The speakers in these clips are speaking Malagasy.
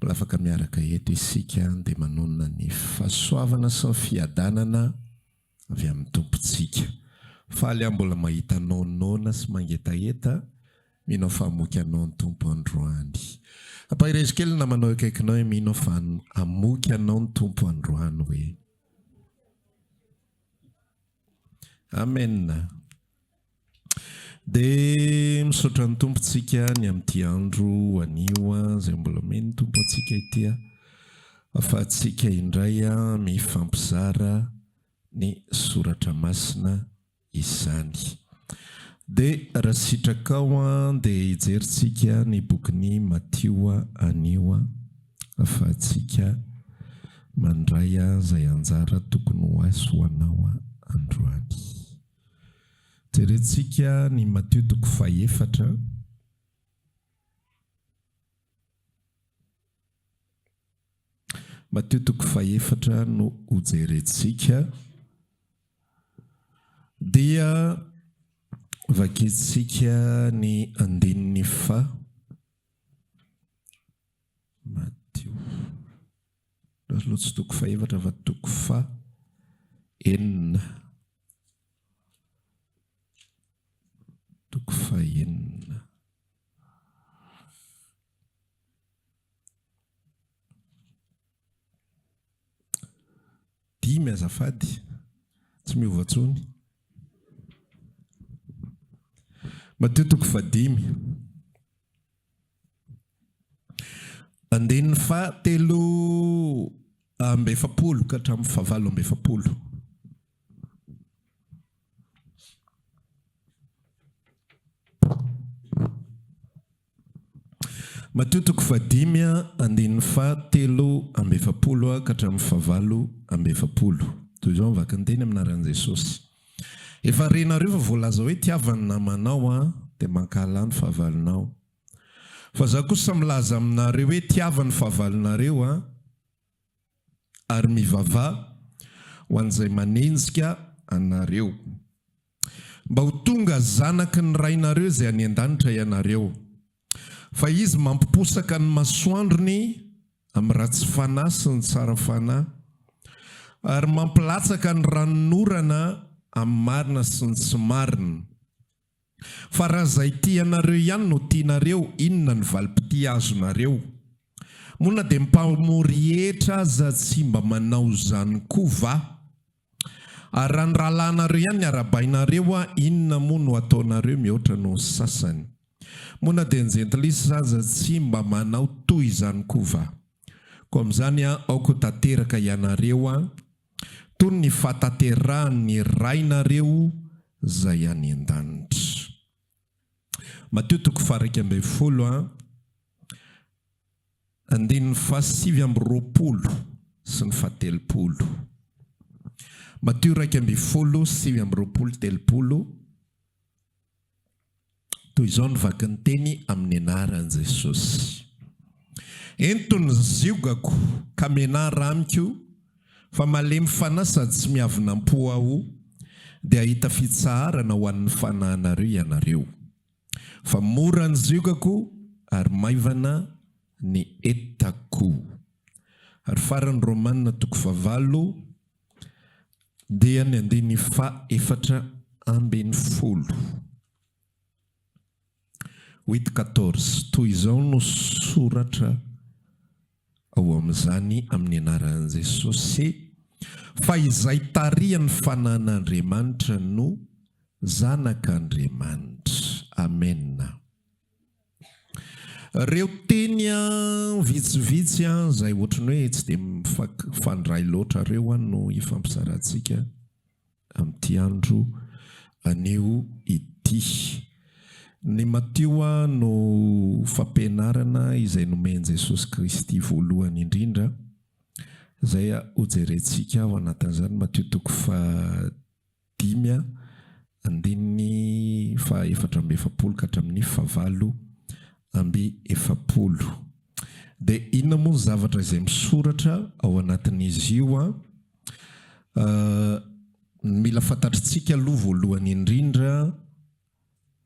Mbola afaka miaraka eto isika dia manonona ny fahasoavana sy ny fiadanana avy amin'ny Tompontsika. Faly aho mbola mahita anao noana sy mangetaheta, mino aho fa hamoky anao ny Tompo androany. Ampaherezo kely ny namanao eo akaikinao hoe mino aho fa hamoky anao ny Tompo androany hoe. Amen. Dia misaotra ny Tompo tsika ny amin'ity andro anio izay mbola omeny ny Tompo antsika ity afahantsika indray mifampizara ny soratra masina izany. Dia raha sitrakao dia hijerintsika ny bokin'i Matio anio. fa tsika mandray aho zay anjara tokony ho ahy sy ho anao androany. Jerentsika ny Matio toko fahefatra. Matio toko fahefatra no ho jerentsika. Dia vakintsika ny andininy fa. Matio. Raha loha tsy toko fahefatra fa toko fa enina. Toko fa enina. Dimy azafady, tsy miova tsony. Matio toko fa dimy. Andininy faha telo amby efapolo ka hatramin'ny faha valo amby efapolo. Matio toko faha dimy andininy faha telo amby efapolo ka hatramin'ny faha valo amby efapolo. Toy izao ny vakin-teny amin'ny anaran'i Jesosy. Efa renareo fa voalaza hoe tiava ny namanao an dia mankahala ny fahavalonao. Fa za kosa milaza aminareo hoe tiava ny fahavalonareo an ary mivava ho an'izay manenjika anareo. Mba ho tonga zanaky ny Rainareo izay any an-danitra ianareo. Fa izy mampiposaka ny masoandrony amin'ny ratsy fanahy sy ny tsara fanahy, ary mampilatsaka ny ranon'orana amin'ny marina sy ny tsy marina. Fa raha izay tianareo ihany no tianareo, inona no valim-pitia azonareo? Moa na dia ny mpamory hetra aza tsy mba manao izany koa va? Ary raha ny rahalahinareo ihany ny arahabainareo a, inona moa no ataonareo mihoatra noho ny sasany? Moa na dia ny jentilisa aza tsy mba manao toy izany koa va? Koa amin'izany a, aoka ho tanteraka ianareo a, toy ny fahatanterahan'ny Rainareo Izay any an-danitra. Matio toko faha iraika ambin'ny folo a. Andininy fahasivy amby roapolo sy ny fahatelopolo. Matio iraika ambin'ny folo, sivy amby roapolo, telopolo, Toy izao ny vaky ny teny amin'ny anaran'i Jesosy, Ento ny ziogako ka mianara amiko, fa malemy fanahy sady tsy miavonam-po aho, dia hahita fitsaharana ho an'ny fanahinareo ianareo. Fa mora ny ziogako ary maivana ny entako. Ary farany Romana toko fahavalo dia ny andininy fahefatra ambin'ny folo. Huit quatorze, toy izao no soratra. ao amin'izany amin'ny anaran'i Jesosy fa izay tarihan'ny fanan'Andriamanitra no zanak'Andriamanitra. Amena. Reo teny an vitsivitsy an izay ohatran'ny hoe tsy dia mifandray loatra reo an no hifampizarantsika amin'ity andro anio ity. Ny Matioa no fampianarana izay nomen'i Jesosy Kristy voalohany indrindra, izay hojerentsika ao anatin'izany, Matio toko fahadimy andininy fahaefatra amby efapolo ka hatramin'ny fahavalo amby efapolo. Dia inona moa ny zavatra izay misoratra ao anatin'izy io? Ny mila fantatritsika aloha voalohany indrindra,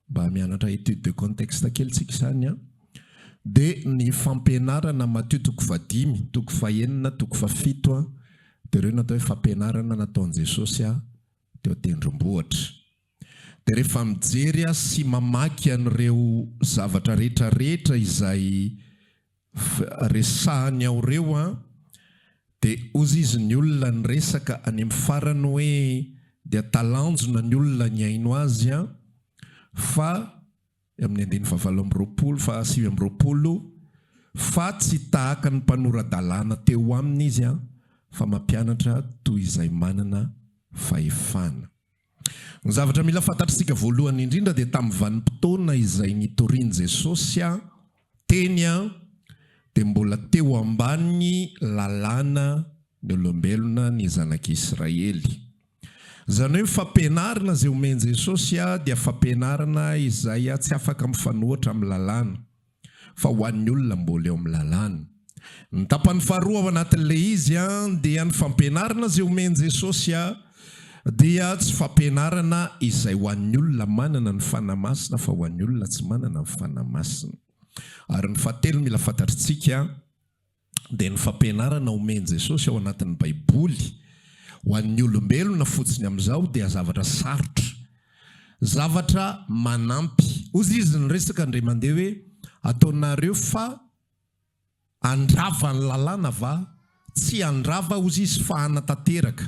mba hamianatra étude de contexte kely tsika izany an, dia ny fampianarana Matio toko fahadimy, toko fahenina, toko fahafito an, dia ireo no atao hoe fampianarana nataon'i Jesosy teo an-tendrombohitra. Dia rehefa mijery ahy sy mamaky an'ireo zavatra rehetra rehetra izay resahany ao ireo an, dia ozy izy ny olona niresaka any amin'ny farany hoe dia talanjona ny olona nihaino azy an, fa amin'ny andininy fahavalo amby roapolo, fahasivy amby roapolo, fa tsy tahaka ny mpanora-dalàna teo aminy izy an, fa mampianatra toy izay manana fahefana. Ny zavatra mila fantatr'isika voalohany indrindra dia tamin'ny vanim-potoana izay nitorian'i Jesosy teny dia mbola teo ambanin'ny lalàna ny olombelona ny zanak'Israely. Izany hoe ny fampianarana izay omen'i Jesosy dia fampianarana izay tsy afaka mifanohitra amin'ny lalàna. fa ho an'ny olona mbola eo amin'ny lalàna. Ny tapany faharoa ao anatin'ilay izy dia ny fampianarana izay omen'i Jesosy dia tsy fampianarana izay ho an'ny olona manana ny Fanahy Masina fa ho an'ny olona tsy manana ny Fanahy Masina. Ary ny fahatelo mila fantatritsika, dia ny fampianarana omen'i Jesosy ao anatin'ny Baiboly ho an'ny olombelona fotsiny amin'izao dia zavatra sarotra, zavatra manampy. Hozy izy niresaka indray mandeha hoe, Ataonareo fa handrava ny lalàna va? Tsy handrava, hozy izy, fa hanatanteraka.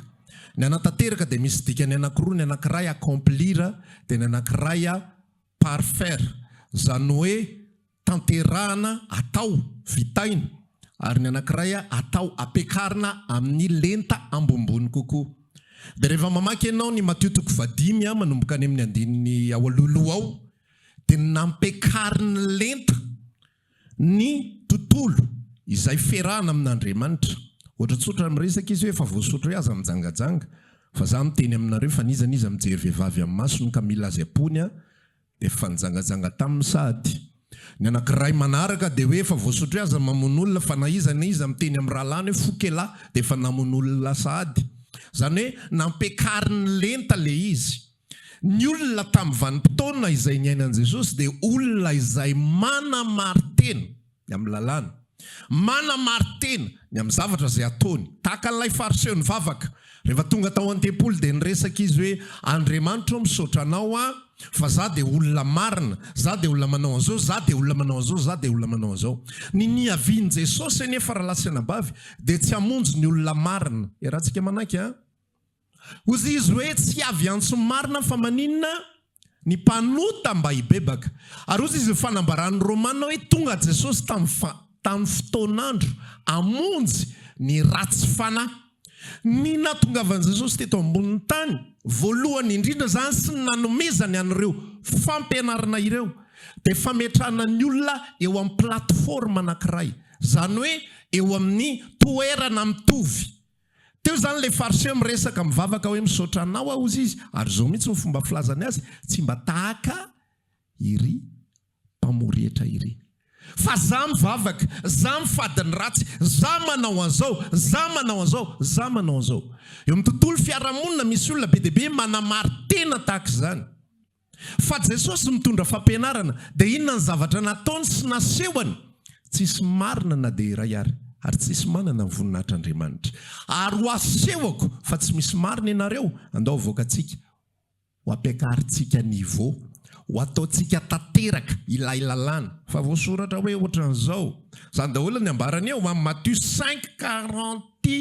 Ny hanatanteraka dia misy dikany anankiroa, ny anankiray accomplir dia ny anankiray parfaire, izany hoe tanterahana atao vitaina ary ny anankiray atao ampiakarina amin'ny lenta ambonimbony kokoa. Dia rehefa mamaky ianao ny Matio toko fahadimy a manomboka any amin'ny andininy ao alohaloha ao dia nampiakarin'ny lenta ny tontolo izay fiarahana amin'Andriamanitra. Ohatra tsotra miresaka izy hoe efa voasotra hoe aza mijangajanga fa za miteny aminareo fa n'iza n'iza mijery vehivavy amin'ny masony ka mila azy am-pony a, Dia efa nijangajanga taminy sahady. Ny anankiray manaraka dia hoe efa voasotro aza ny mamono olona fa na iza na iza miteny amin'ny rahalahiny hoe foko elah dia efa namono olona sahady. Izany hoe nampiakariny lenta ilay izy. Ny olona tamin'ny vanim-potoana izay niainan'i Jesosy dia olona izay manamarin-tena. ny amin'ny lalàna. Manamari-tena ny amin'ny zavatra izay ataony. Tahaka an'ilay Fariseo nivavaka, rehefa tonga tao an-tempoly dia niresaka izy hoe, Andriamanitro ô, misaotra Anao aho, fa izaho dia olona marina, izaho dia olona manao an'izao, izaho dia olona manao an'izao, izaho dia olona manao an'izao. Ny niavian'i Jesosy anefa, rahalahy sy anabavy, dia tsy hamonjy ny olona marina. Iarahantsika manaiky a. Hozy izy hoe, Tsy avy antso marina fa maninona? Ny mpanota mba hibebaka. Ary hozy izy, Ny fanambaran'ny Romana hoe tonga Jesosy tamin'ny fotoan'andro hamonjy ny ratsy fanahy. Ny nahatongavan'i Jesosy teto ambonin'ny tany, voalohany indrindra izany sy ny nanomezany an'ireo fampianarana ireo, dia fametrahana ny olona eo amin'ny plateforme anankiray, izany hoe eo amin'ny toerana mitovy. Teo izany ilay Fariseo miresaka, mivavaka hoe, Misaotra Anao aho, hozy izy. Ary izao mihitsy no fomba filazany azy, Tsy mba tahaka iry mpamorietra iry. Fa izaho mivavaka, izaho mifady ny ratsy, izaho manao an'izao, izaho manao an'izao, izaho manao an'izao. Eo amin'ny tontolo fiarahamonina, misy olona be dia be manamari-tena tahaka izany. Fa Jesosy mitondra fampianarana, dia inona ny zavatra nataony sy nasehony? Tsisy marina na dia iray ary, ary tsisy manana ny voninahitr'Andriamanitra. Ary ho asehoko fa tsy misy marina ianareo, andao havoakantsika, ho ampiakarintsika niveau, ho ataontsika tanteraka ilay lalàna. Fa voasoratra hoe ohatran'izao. Izany daholo ny ambarany eo amin'ny Matthieu cinq, quarante.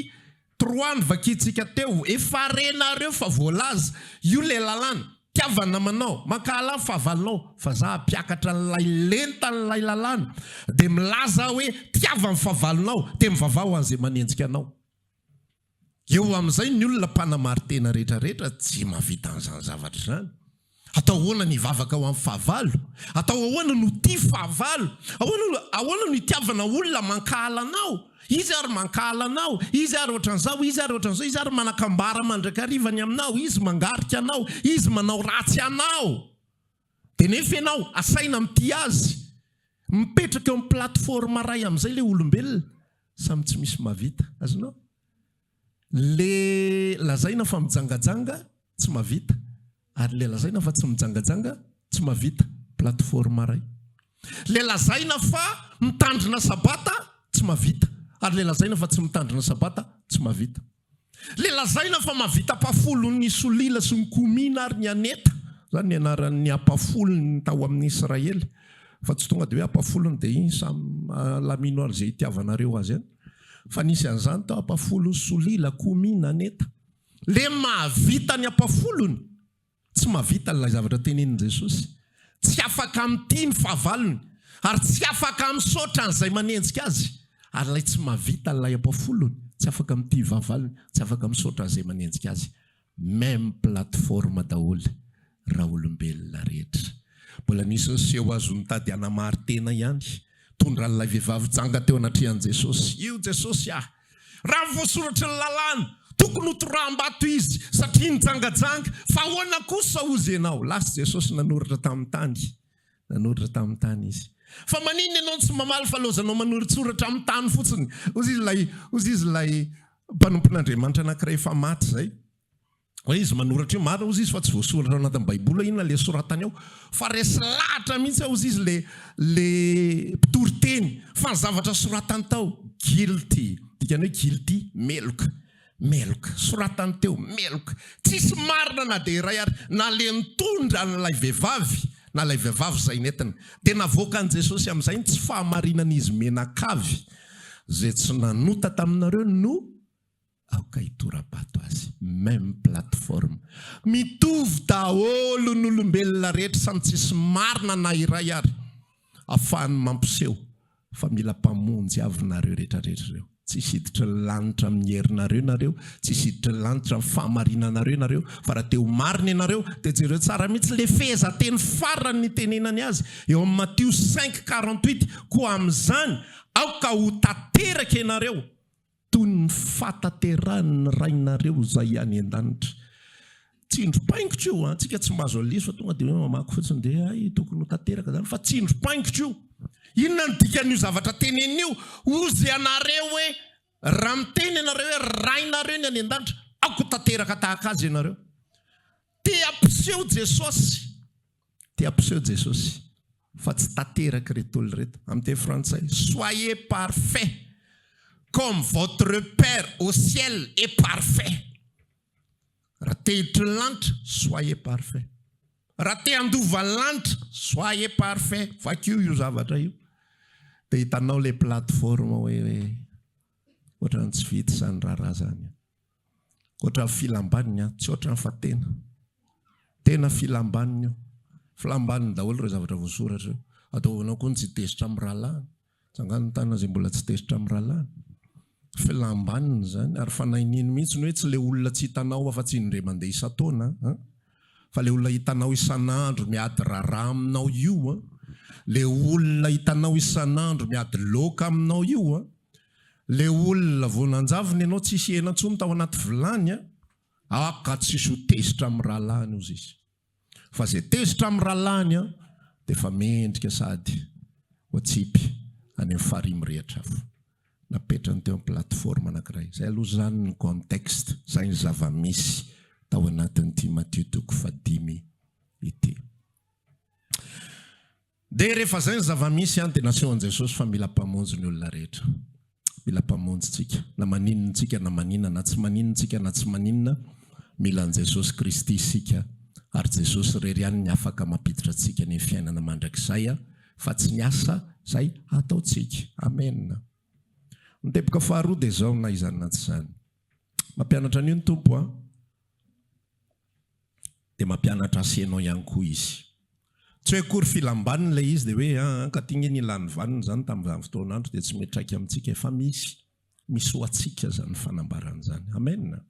Trois ny vakintsika teo. Efa renareo fa voalaza. Io le lalàna. Tiavana namanao. Mankahala ny fahavalonao. Fa za hampiakatra an'ilay lenta an'ilay lalàna. Dia milaza aho hoe tiava ny fahavalonao. Dia mivavaha ho an'izay manenjika anao. Eo amin'izay ny olona mpanamarin-tena rehetrarehetra tsy mahavita an'izany zavatra izany. Atao ahoana ny hivavaka ho amin'ny fahavalo? Atao ahoana no tia fahavalo? Ahoana no itiavana olona mankahala anao? Izy ary mankahala anao, izy ary ohatran'izao, izy ary ohatran'izao, izy ary manakambara mandrakariva ny aminao, izy mangarika anao, izy manao ratsy anao. Dia nefa ianao asaina mitia azy. Mipetraka eo amin'ny plateforme iray amin'izay ilay olombelona. Samy tsy misy mahavita. Azonao? Le lazaina fa mijangajanga tsy mavita ary le lazaina fa tsy mijangajanga tsy mavita plateforme ray le lazaina fa mitandrina sabata tsy mavita ary le lazaina fa tsy mitandrina sabata tsy mavita le lazaina fa mavita apafolo ny solila sy ny komina ary ny aneta zany ny anaran'ny apafolo ny tao amin'ny israely fa tsy tonga de hoe apafolo ny de iny samy alamino ary ze itiavanareo azy any Fa nisy an'izany tao Ampafolon'i Solia, la Commune, Aneta. Le mahavita ny Ampafolony, tsy mahavita an'ilay zavatra tenenin'i Jesosy. Tsy afaka mitia ny fahavalony, ary tsy afaka misaotra an'izay manenjika azy. Ary ilay tsy mahavita an'ilay Ampafolony, tsy afaka mitia vavalony, tsy afaka misaotra an'izay manenjika azy. Meme plateforme daholo ra olombelona rehetra. Mbola nisy niseho azo nitady hanamary tena ihany, tondra an'ilay vehivavy janga teo anatrehan'i Jesosy. Io Jesosy ah! Raha ny voasoratry ny lalàna, tokony ho toraham-bato izy satria nijangajanga, fa ahoana kosa hozy ianao? Lasa Jesosy nanoratra tamin'ny tany Nanoratra tamin'ny tany izy. Fa maninona ianao no tsy mamaly fa laozanao manoritsoratra amin'ny tany fotsiny? Hozy izy ilay, hozy izy ilay mpanompon'Andriamanitra anankiray efa maty izay. Hoe izy manoratra io, marina hozy izy fa tsy voasoratra ao anatin'ny Baiboly hoe inona ilay soratany ao. Fa resy lahatra mihitsy aho hozy izy ilay, ilay mpitory teny fa ny zavatra soratany tao, guilty, dikany hoe guilty, meloka. Meloka. Soratany teo, meloka. Tsisy marina na dia iray ary. Naleny tondra an'ilay vehivavy, na ilay vehivavy izay nentiny. Dia navoakan'i Jesosy amin'izay ny tsy fahamarinan'izy mianakavy, Izay tsy nanota taminareo no aoka hitora-bato azy. Même plateforme. Mitovy daholo ny olombelona rehetra, samy tsisy marina na iray ary, afahany mampiseho. fa mila mpamonjy avy nareo rehetra rehetra ireo, tsy hisy hiditra ny lanitra amin'ny herinareo nareo, tsy hisy hiditra ny lanitra amin'ny fahamarinanareo nareo, fa raha te ho marina ianareo dia jereo tsara mihitsy le fehezanteny farany nitenenany azy eo amin'ny Matio cinq quarante huit, koa amin'izany aoka ho tanteraka ianareo toy ny fahatanterahan'ny Rainareo Izay any An-danitra. Tsindry paingitra io, antsika tsy mba azo aleso fa tonga dia hoe mamaky fotsiny dia hay tokony ho tanteraka izany fa tsindry paingitra io. Inona ny dikan'io zavatra teneniny io? Hozy ianareo hoe raha miteny ianareo hoe Rainareo ny any An-danitra, aoka ho tanteraka tahaka Azy ianareo. Te hampiseho Jesosy. Dia ampiseho Jesosy fa tsy tanteraka ireto olona ireto, amin'ny teny frantsay, Soyez parfait comme votre Père au ciel est parfait. Raha te hiditra ny lanitra, soyez parfait. Raha te handova ny lanitra, soyez parfait. Vakio io zavatra io, dia hitanao ilay plateforme hoe ohatran'ny tsy vita izany raharaha izany. Ohatran'ny filambaniny an, tsy ohatran'ny fa tena. Tena filambaniny io. Filambaniny daholo ireo zavatra voasoratra io. Ataovanao koa ny tsy tezitra amin'ny rahalahiny. Tsy angano ny tanana izay mbola tsy tezitra amin'ny rahalahiny. Filambaniny izany, ary fanahy nino mihitsy hoe tsy ilay olona tsy hitanao afa-tsy indray mandeha isan-taona an. fa le olona hitanao isan'andro miady rarà aminao io an, le olona hitanao isan'andro miady loaka aminao io an, le olona vao nanjavona ianao tsisy hena intsony tao anaty vilany an, aka tsisy ho tezitra amin'ny rahalahiny ozy izy, fa zay tezitra amin'ny rahalahiny an dia efa mendrika sady oatsipy any amin'ny farihy mirehitra avy. napetrany teo amin'ny plateforme anankiray. Izay aloha izany ny contexte, izay ny zava-misy tao anatin'ity Matio toko fahadimy ity. Dia rehefa izay ny zava-misy an, dia nasehon'i Jesosy fa mila Mpamonjy ny olona rehetra. Mila Mpamonjy tsika. Na maninona tsika na maninona, na tsy maninona tsika na tsy maninona, mila an'i Jesosy Kristy isika, ary Jesosy irery ihany ny afaka mampiditra antsika ny fiainana mandrakizay. fa tsy ny asa izay hataontsika. Amena. Ny teboka faharoa dia izao, na izany na tsy izany. Mampianatra an'io ny Tompo an! Dia mampianatra asa ianao ihany koa Izy. Tsy hoe akory filam-baniny ilay izy dia hoe an, an, ka ty nge nilan'ny vaniny izany tamin'izany fotoan'andro dia tsy mety traika amintsika e! Fa misy. Misy ho antsika izany fanambarana izany. Amena.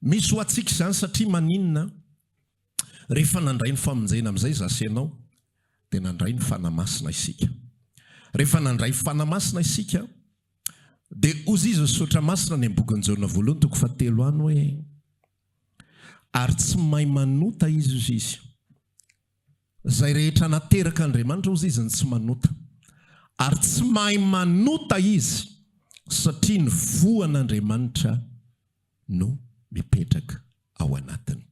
Misy ho antsika izany satria maninona? Rehefa nandray ny famonjena amin'izay za sy ianao dia nandray ny Fanahy Masina isika. Rehefa nandray Fanahy Masina isika dia hozy izy Misaotra Masina any ambokin'i Jaona voalohany toko fahatelo any hoe ary tsy mahay manota izy hozy izy. Izay rehetra nateraka Andriamanitra hozy izy no tsy manota. Ary tsy mahay manota izy satria ny voa an'Andriamanitra no mipetraka ao anatiny.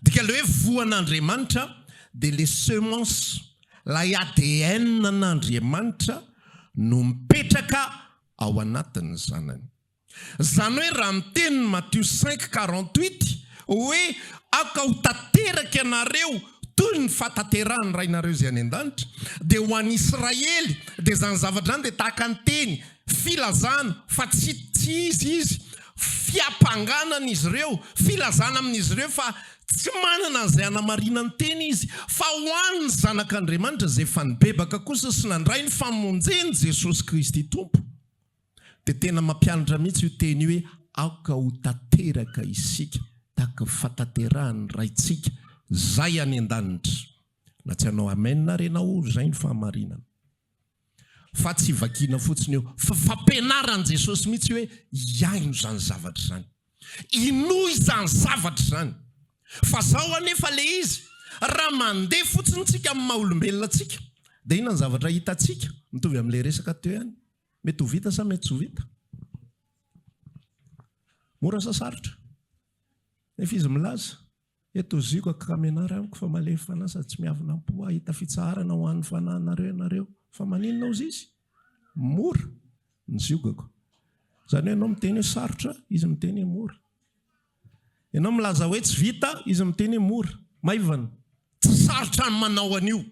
Dika ilay hoe voan'Andriamanitra dia ilay semence, ilay ADN an'Andriamanitra no mipetraka ao anatin'ny zanany. Izany hoe raha miteny ny Matio cinq quarante huit hoe aoka ho tanteraka ianareo toy ny fahatanterahan'ny Rainareo izay any an-danitra dia ho an'Israely dia izany zavatra izany dia tahaka ny teny Filazana fa tsy tsy izy izy, fiampangànan' izy ireo, filazana amin' izy ireo fa tsy manana an'izay hanamarinany tena izy, fa ho an' ny Zanak' Andriamanitra izay efa nibebaka kosa sy nandray ny famonjeny, Jesosy Kristy Tompo. Dia tena mampianatra mihitsy io teny io hoe aoka ho tanteraka isika tahaka ny fahatanterahan' ny Raintsika Izay any an-danitra. Na tsy hanao amen àry ianao, izay no fahamarinana. Fa tsy vakiana fotsiny io, fa fampianaran'i Jesosy mihitsy hoe hihaino izany zavatra izany. Hinoa izany zavatra izany. Fa izao anefa ilay izy, raha mandeha fotsiny isika amin'ny maha olombelona antsika, dia inona ny zavatra hitantsika? Mitovy amin'ilay resaka teo ihany. Mety ho vita sa mety tsy ho vita? Mora sa sarotra? Nefa izy milaza. Eto ziko akramenar amiko fa malemy fanahy sady tsy miavona am-po hahita fitsaharana ho an'ny fanahinareo ianareo. Fa maninona ozy izy? Mora ny ziogako. Izany hoe ianao miteny hoe sarotra, izy miteny hoe mora. Ianao milaza hoe tsy vita, izy miteny hoe mora. Maivana. Tsy sarotra ny manao an'io.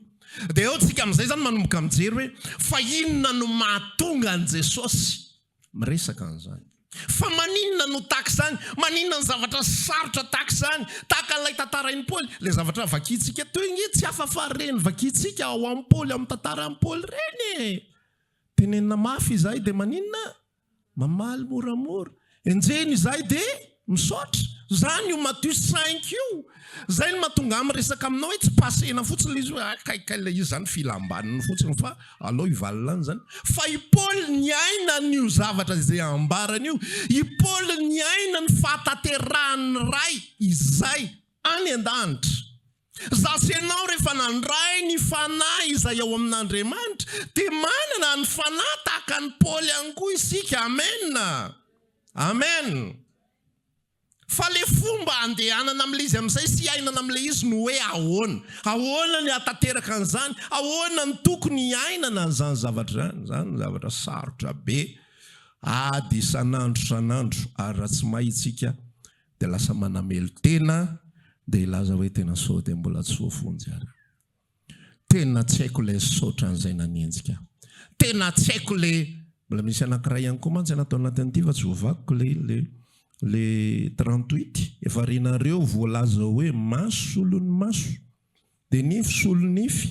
Dia eo tsika amin'izay izany manomboka mijery hoe fa inona no mahatonga an'i Jesosy miresaka an'izany. Fa maninona no tahaka izany? Maninona ny zavatra sarotra tahaka izany? Tahaka an'ilay tantarain'i Paoly, ilay zavatra vakintsika etoy ange tsy hafa fa ireny vakintsika ao amin'i Paoly, amin'ny tantaran'i Paoly ireny e! Tenenina mafy izahay dia maninona? Mamaly moramora. Enjehina izahay dia. Misaotra. Zany io Matthieu cinq io zay no mahatonga ahy miresaka aminao hoe tsy passena fotsiny le izy hoe hay kay kay le izy zany filam-baniny fotsiny fa alao hivalona any zany fa i Paoly niaina an'io zavatra izay ambarany io. I Paoly niaina ny fahatanterahan'ny Ray izay any an-danitra. Za sy ianao rehefa nandray ny Fanahy izay ao amin'Andriamanitra dia manana ny Fanahy tahaka an'i Paoly ihany koa isika. Amena. Amen! Fa le fomba andehanana amle izy amizay sy iainana amle izy no hoe ahoana? Ahoana ny ahatanteraka an'izany? Ahoana ny tokony iainana an'izany zavatra izany? Izany no zavatra sarotra be, ady isan'andro isan'andro, ary raha tsy mahay isika dia lasa manamelo-tena, dia hilaza hoe tena sao dia mbola tsy voafonja ary. Tena tsy haiko ilay nisaotra an'izay nanenjika ahy. Tena tsy haiko ilay, mbola misy anankiray ihany koa mantsy tao anatin'ity fa tsy voavakiko ilay ilay ilay trente huit e, varianareo voalaza hoe maso solon'ny maso dia nify solon'ny nify.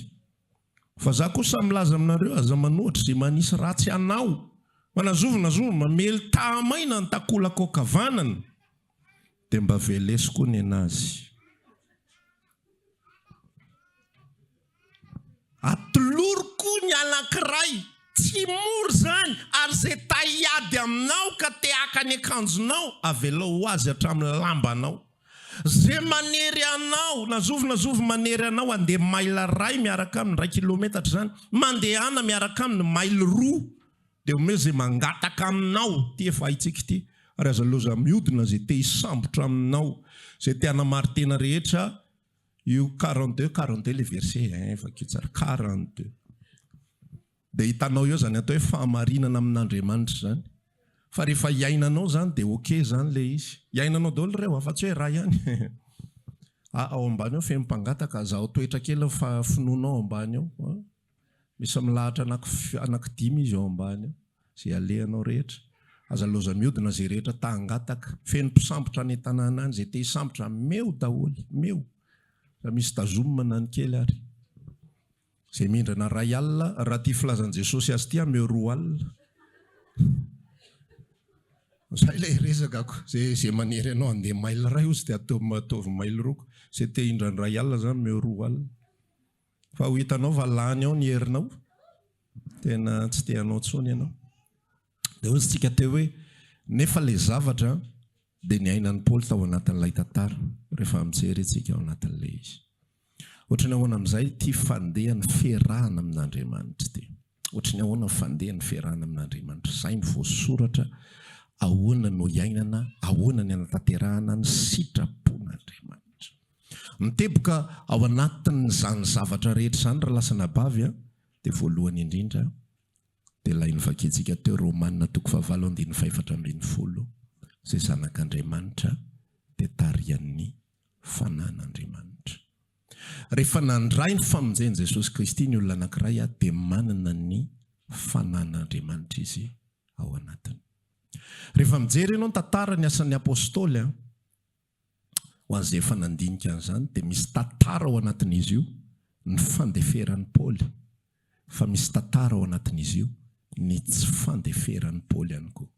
Fa za kosa milaza aminareo aza manohitra izay manisy ratsy anao fa na zovy na zovy mamely taha-maina ny takolaka ankavanana. dia mba velesy koa nenazy. Atolory koa ny anankiray, tsy mora izany, ary izay ta hiady aminao ka te haka ny akanjonao, avelao ho azy hatramin'ny lambanao. Izay manery anao, na zovy na zovy manery anao handeha mail iray miaraka aminy, iray kilometatra izany, mandehana miaraka aminy mail roa. Dia omeo izay mangataka aminao ity efa haintsika ity ary aza loza miodina izay te hisambotra aminao izay te hanamary tena rehetra io quarante deux quarante deux ilay verset hein vakio tsara quarante deux dia hitanao eo izany atao hoe fahamarinana amin'Andriamanitra izany fa rehefa hiainanao izany dia ok izany ilay izy hiainanao daholo ireo afa tsy hoe iray ihany ah ao ambany ao feno mpangataka azahoa toetra kely fa finoanao ambany ao Misy milahatra anaky anaky dimy izy ao ambany ao, izay alehanao rehetra. Aza loza miodina izay rehetra ta hangataka. Feno mpisambotra any an-tanàna any, izay te hisambotra meo daholo, meo. Efa misy tazomina ny kely ary. Izay mindrana iray alina, raha ity filazan'i Jesosy azy ity aho meo roa alina. Izay ilay resakako, izay izay manery anao handeha mail iray hozy dia ataovy ataovy mail roa koa. Izay te hindra ny iray alina izany meo roa alina. Fa ho hitanao fa lany ao ny herinao, tena tsy te hanao intsony ianao. Dia hoy isika teo hoe, nefa ilay zavatra dia niainan'i Paoly tao anatin'ilay tantara, rehefa mijery isika ao anatin'ilay izy. Ohatry ny ahoana amin'izay ity fandehan'ny fiarahana amin'Andriamanitra ity? Ohatry ny ahoana ny fandeha ny fiarahana amin'Andriamanitra? Izay ny voasoratra, ahoana no iainana, ahoana ny hanatanterahana ny sitrapon'Andriamanitra. Miteboka ao anatin'izany zavatra rehetra izany ry lahy sy anabavy a, dia voalohany indrindra dia ilay novakiantsika teo Romana toko fahavalo andininy fahefatra ambin'ny folo, izay zanak'Andriamanitra dia tarihan'ny fanan'Andriamanitra. Rehefa nandray ny famonjen'i Jesosy Kristy ny olona anankiray dia manana ny fanan'Andriamanitra izy ao anatiny. Rehefa mijery ianao ny tantaran'ny asan'ny Apostoly, ho an'izay efa nandinika an'izany dia misy tantara ao anatin'izy io ny fandeferan'i Paoly fa misy tantara ao anatin'izy io, ny tsy fandeferan'i Paoly ihany koa.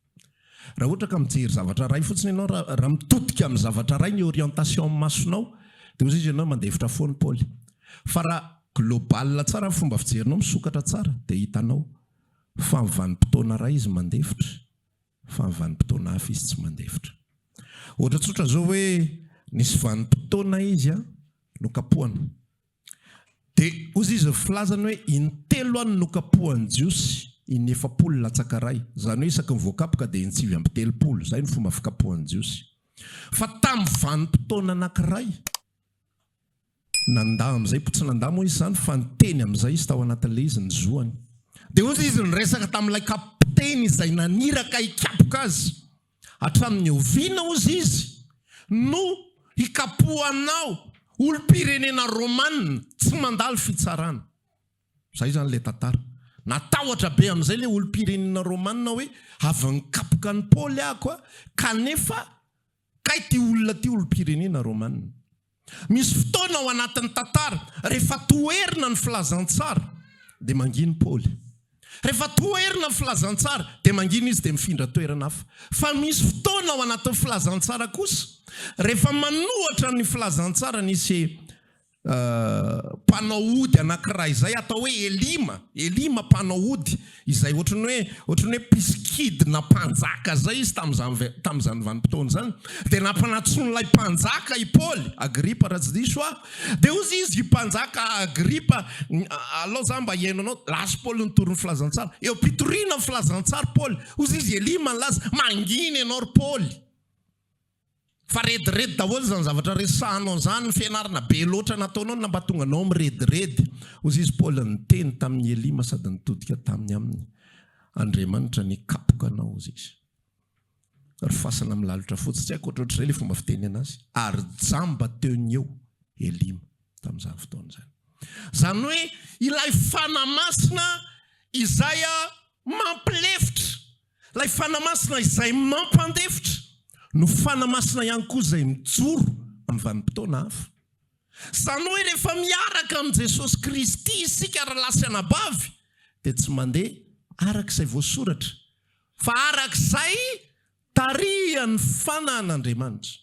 Raha ohatra ka mijery zavatra iray fotsiny ianao, raha mitodika amin'ny zavatra iray ny orientation amin'ny masonao, dia ozy izy ianao mandefitra foana i Paoly. Fa raha global tsara ny fomba fijerinao, misokatra tsara, dia hitanao fa amin'ny vanim-potoana iray izy mandefitra, fa amin'ny vanim-potoana hafa izy tsy mandefitra. Ohatra tsotra izao hoe, nisy vanim-potoana izy nokapohana, Dia hozy izy ny filazany hoe, In-telo any nokapohan'ny Jiosy, in-efapolo latsaka iray. Izany hoe isaky ny voakapoka dia in-tsivy amby telopolo. Izay no fomba fikapohan'ny Jiosy. Fa tamin'ny vanim-potoana anankiray, nandà amin'izay, tsy nandà moa izy izany fa niteny amin'izay izy tao anatin'ilay izy, ny zoany. Dia hozy izy niresaka tamin'ilay kapiteny izay naniraka hikapoka azy. Hatramin'ny oviana, hozy izy, no hikapohanao olom-pirenena Romana tsy mandalo fitsarana? Izay izany ilay tantara. Natahotra be amin'izay ilay olom-pirenena Romana hoe, avy nikapoka an'i Paoly aho koa, kanefa kay ity olona ity olom-pirenena Romana. Misy fotoana ao anatin'ny tantara, rehefa toherina ny filazantsara, dia mangina Paoly. Rehefa toherina ny filazantsara, dia mangina izy, dia mifindra toerana hafa. Fa misy fotoana ao anatin'ny filazantsara kosa, rehefa manohatra ny filazantsara, nisy mpanao ody anankiray izay atao hoe Elima, Elima mpanao ody, Izay ohatran'ny hoe ohatran'ny hoe mpisikidy na mpanjaka izay izy tamin'izany tamin'izany vanim-potoana izany. Dia nampanantsoin'ilay mpanjaka i Paoly, Agripa raha tsy diso aho. Dia hoy izy, Ry mpanjaka Agripa, alao izaho mba hihaino anao. Lasa i Paoly nitory ny filazantsara. Eo am-pitoriana ny filazantsara i Paoly, hoy izy, Elia no malaza. Mangina ianao ry Paoly. Fa rediredy daholo izany zavatra resahanao izany, ny fianarana be loatra nataonao no nampahatonga anao mirediredy. Hozy izy Paoly niteny tamin'i Elima sady nitodika taminy aminy, Andriamanitra nikapoka anao, hozy izy. Ry fasana milalotra fotsy, tsy haiko ohatrohatrizay ilay fomba fiteny anazy, ary jamba teo ny eo Elima tamin'izany fotoana izany. Izany hoe ilay Fanahy Masina izay mampilefitra. Ilay Fanahy Masina izay mampandefitra no Fanahy Masina ihany koa izay mijoro amin'ny vanim-potoana hafa. Izany hoe rehefa miaraka amin'i Jesosy Kristy isika ry lahy sy anabavy dia tsy mandeha araka izay voasoratra fa araka izay tarihan'ny Fanahin'Andriamanitra.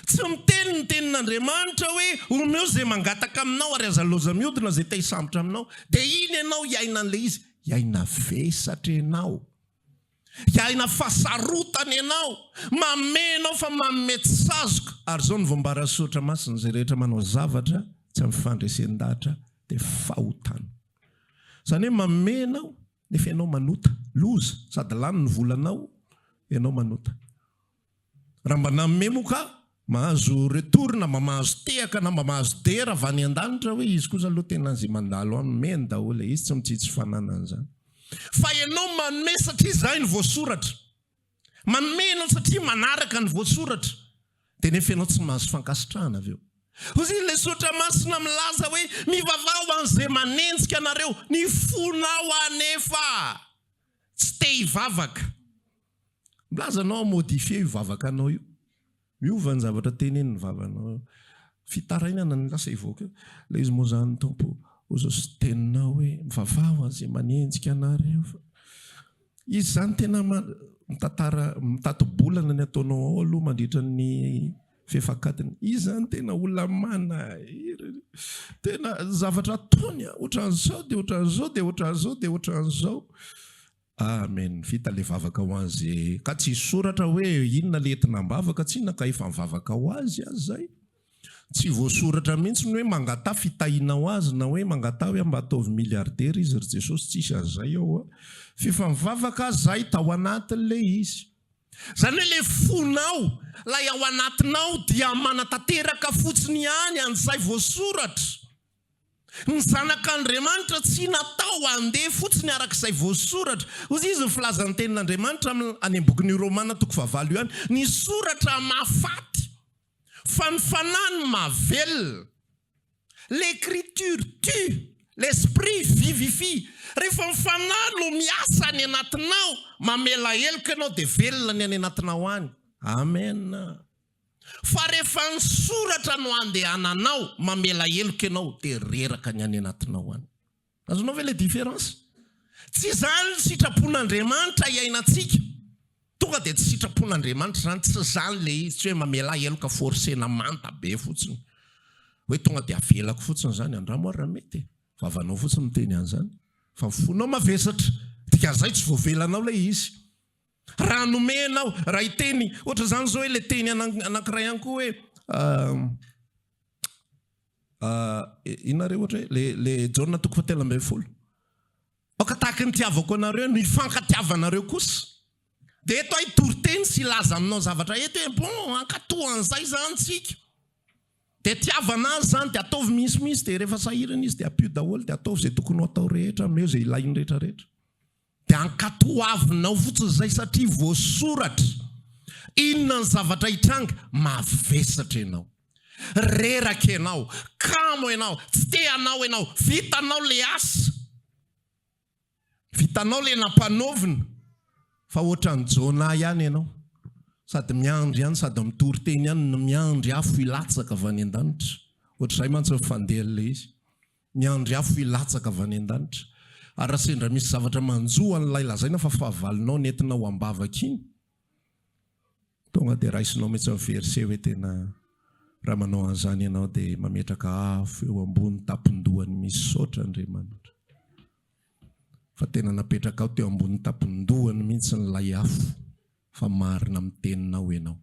Tsy miteny ny Tenin'Andriamanitra hoe omeo izay mangataka aminao ary aza loza miodina izay te-hisambotra aminao dia iny ianao hiainan'ilay izy. Hiaina vesatra ianao. Hiaina fahasarotana ianao, mamehy anao fa manome tsy sazoka. Ary izao no voambara sy soratra masina, izay rehetra manao zavatra tsy amin'ny fandresen-dahatra dia fahotana. Izany hoe mamehy ianao nefa ianao manota, loza, sady lany ny volanao, ianao manota. Raha mba nanome moa ka mahazo retour na mba mahazo tehaka na mba mahazo dera avy any an-danitra hoe izy kosa aloha tena izay mandalo aminy men daholo e, izy tsy mitsitsy fananany izany. Fa ianao manome satria izay no voasoratra. Manome ianao satria manaraka ny voasoratra. Dia nefa ianao tsy mahazo fankasitrahana avy eo. Hozy ilay soratra masina milaza hoe mivavaha ho an'izay manenjika anareo. Ny fonao anefa tsy te hivavaka. Milaza anao hamodifier io vavaka anao io. Miova ny zavatra tenenin'ny vavanao. Fitarainana no lasa hivoaka eo. Ilay izy moa izany Tompo Ozosy teninao hoe mivavaha ho an'izay manenjika anareo fa izy izany tena mitantara mitati-bolana ny ataonao ao aloha mandritra ny fefak'adiny. Izy izany tena olona manahirana. Tena zavatra ataony ohatran'izao dia ohatran'izao dia ohatran'izao dia ohatran'izao. Amen vita le vavaka ho an ze ka tsisy soratra hoe inona le entina ambavaka tsina ka efa mivavaka ho azy aza zay tsy voasoratra mintsy ny hoe mangataha fitahina ho azy na hoe mangataha hoe mba ataovy milliardaire izy ry jesosy tsisy an zay ao a fefa mivavaka aza zahay tao anatiny le izy zany hoe le fonao lay ao anatinao dia manatateraka fotsiny ihany an zay voasoratra Ny Zanak'Andriamanitra tsy natao handeha fotsiny araka izay voasoratra. Hoy izy ny filazan'ny Tenin'Andriamanitra any amin'ny bokin'i Romana toko fahavalo io any, Ny soratra mahafaty, fa ny fanahy no mahavelona. L'Ecriture tue, l'Esprit vivifie. Rehefa ny fanahy no miasa any anatinao, mamela heloka ianao, dia velona ny any anatinao any. Amena. Fa rehefa ny soratra no andehananao mamela heloka ianao dia reraka ny any anatinao any. Azonao ve ilay différence? Tsy izany ny sitrapon'Andriamanitra iainantsika. Tonga dia tsy sitrapon'Andriamanitra izany, tsy izany ilay izy, tsy hoe mamelà heloka forcena manta be fotsiny. Hoe tonga dia avelako fotsiny izany, andramo ary raha mety e. Vavanao fotsiny miteny an'izany. Fa ny fonao mavesatra, dikan'izay tsy voavelanao ilay izy. Raha nomena aho, raha hiteny ohatra izany izao hoe ilay teny anankiray any koa hoe inona re ohatra hoe le Jaona toko fahatelo ambin'ny folo. Aoka tahaka ny tiavako anareo ny fankatiavanareo kosa. Dia eto aho hitory teny sy hilaza aminao zavatra eto hoe bon hankatoa an'izay izany tsika. Dia tiavana azy izany dia ataovy misimisy dia rehefa sahirana izy dia ampio daholo dia ataovy izay tokony ho atao rehetra, ameo izay ilainy rehetrarehetra. Dia ankatoavinao fotsiny izay satria voasoratra. Inona ny zavatra hitranga? Mavesatra ianao. Reraka ianao. Kamo ianao. Tsy te hanao ianao. Vitanao ilay asa. Vitanao ilay nampanaovina. Fa ohatran'i Jonah ihany ianao. Sady miandry ihany sady mitory teny ihany no miandry afo hilatsaka avy any an-danitra. Ohatr'izay mantsy ny fandehan'ilay izy. Ny andry afo hilatsaka avy any an-danitra. Ary raha sendra misy zavatra manjo an'ilay lazaina fa fahavalonao nentinao am-bavaka iny, tonga dia raisinao mihitsy ny verset hoe tena raha manao an'izany ianao dia mametraka afo eo ambony tampon-dohany Misaotra Andriamanitra fa tena napetrakao teo ambony tampon-dohany mihitsy ilay afo. fa marina amin'ny teninao ianao.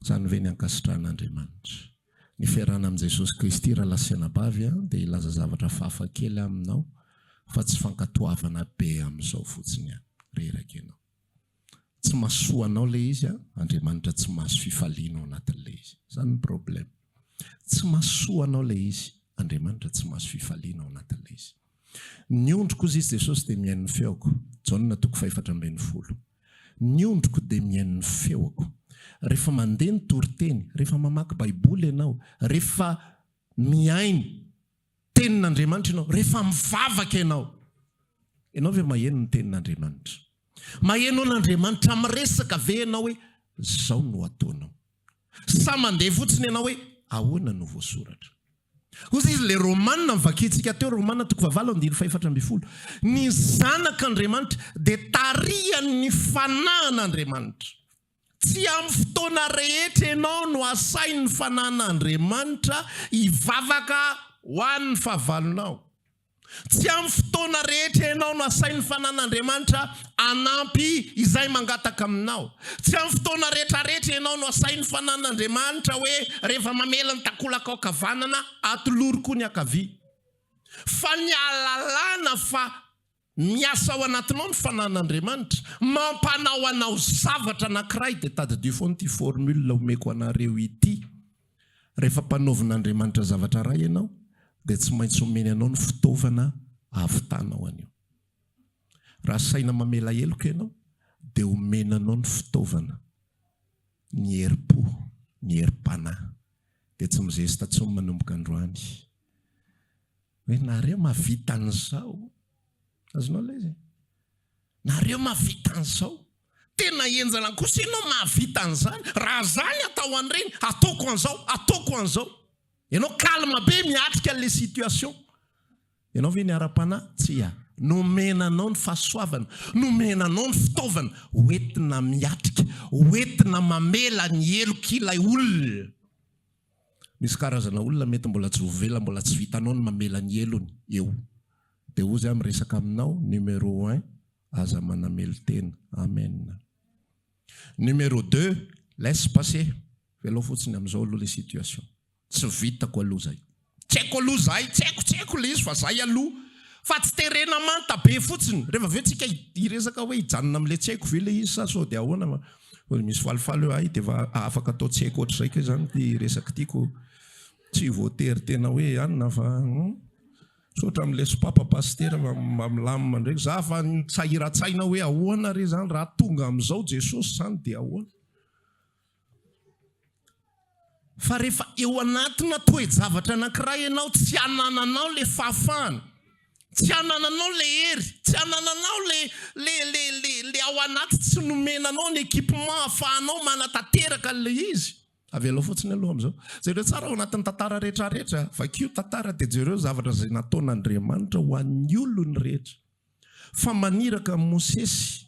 Izany ve ny ankasitrahan'Andriamanitra? Ny fiarahana amin'i Jesosy Kristy raha lahy sy anabavy dia hilaza zavatra fafa kely aminao fa tsy fankatoavana be amin'izao fotsiny ihany. Reraka ianao. Tsy mahasoa anao ilay izy an, Andriamanitra tsy mahazo fifaliana ao anatin'ilay izy. Izany ny problème. Tsy mahasoa anao ilay izy, Andriamanitra tsy mahazo fifaliana ao anatin'ilay izy. Ny ondriko, hoy Izy Jesosy, dia mihaino ny feoko. Jaona toko fahefatra ambin'ny folo. Ny ondriko dia mihaino ny feoko. Rehefa mandeha ny toriteny, rehefa mamaky Baiboly ianao, rehefa mihaino Tenin'Andriamanitra ianao, rehefa mivavaka ianao, ianao ve maheno ny Tenin'Andriamanitra? Maheno an'Andriamanitra miresaka ve ianao hoe izao no ataonao? Sa mandeha fotsiny ianao hoe ahoana no voasoratra? Hozy izy, ilay Romana novakintsika teo, Romana toko fahavalo andininy fahefatra ambin'ny folo, Ny Zanak' Andriamanitra dia tarihan' ny fanahin' Andriamanitra. Tsy amin'ny fotoana rehetra ianao no asain' ny Fanahin' Andriamanitra hivavaka ho an' ny fahavalonao. Tsy amin'ny fotoana rehetra ianao no asain'ny fanan'Andriamanitra hanampy izay mangataka aminao. Tsy amin'ny fotoana rehetrarehetra ianao no asain'ny fanan'Andriamanitra hoe rehefa mamela ny takolaka ankavanana, atolory koa ny ankavia. Fa ny ahalalana fa miasa ao anatinao ny fanan'Andriamanitra, mampanao anao zavatra anankiray, dia tadidio foana ity formule omeko anareo ity. Rehefa mpanaovin'Andriamanitra zavatra raha ianao dia tsy maintsy omeny anao ny fitaovana hahavitanao an'io. Raha saina mamela heloka ianao dia omeny anao ny fitaovana, ny herim-po, ny herim-panahy. Dia tsy mizesta intsony manomboka androany hoe, nareo mahavita an'izao. Azonao lay zay? Nareo mahavita an'izao. Tena henjana kosa ianao mahavita an'izany. Raha za ny atao an'ireny, ataoko an'izao, ataoko an'izao. Ianao calme be miatrika an'ilay situation. Ianao ve ny ara-panahy? Tsia. Nomena anao ny fahasoavana, nomena anao ny fitaovana ho entina miatrika, ho entina mamela ny helok'ilay olona. Misy karazana olona mety mbola tsy voavela, mbola tsy vitanao ny mamela ny helony eo. Dia ozy aho miresaka aminao numéro un aza manamelo tena. Amen. Numéro deux laisse passer velao fotsiny amizao aloha le situation tsy vitako aloha zay. Tsy haiko aloha zay tsy haiko tsy haiko le izy fa zay aloha fa tsy terena manta be fotsiny rehefa avy eo tsika hiresaka hoe hijanona amle tsy haiko ve le izy sa sao de ahoana fa ozy misy falifaly hoe hay defa afaka atao tsy haiko otrzay ko zany ty resaky ty ko tsy voatery tena hoe anona fa. Misaotra amin'ny leso papa pasitera fa mba milamina indray. Za efa nisahiratsaina hoe ahoana re zany raha tonga amin'izao Jesosy zany dia ahoana? Fa rehefa eo anatina toe-javatra anankiray ianao tsy anananao le fahafahana, tsy anananao le hery, tsy anananao le le le le le ao anaty tsy nomena anao ny equipement ahafahanao manatanteraka an'ilay izy. Avelao fotsiny aloha amin'izao. Jereo tsara ao anatin'ny tantara rehetrarehetra. Vakio tantara dia jereo zavatra izay nataon'Andriamanitra ho an'ny olony rehetra. Fa maniraka an'i Mosesy,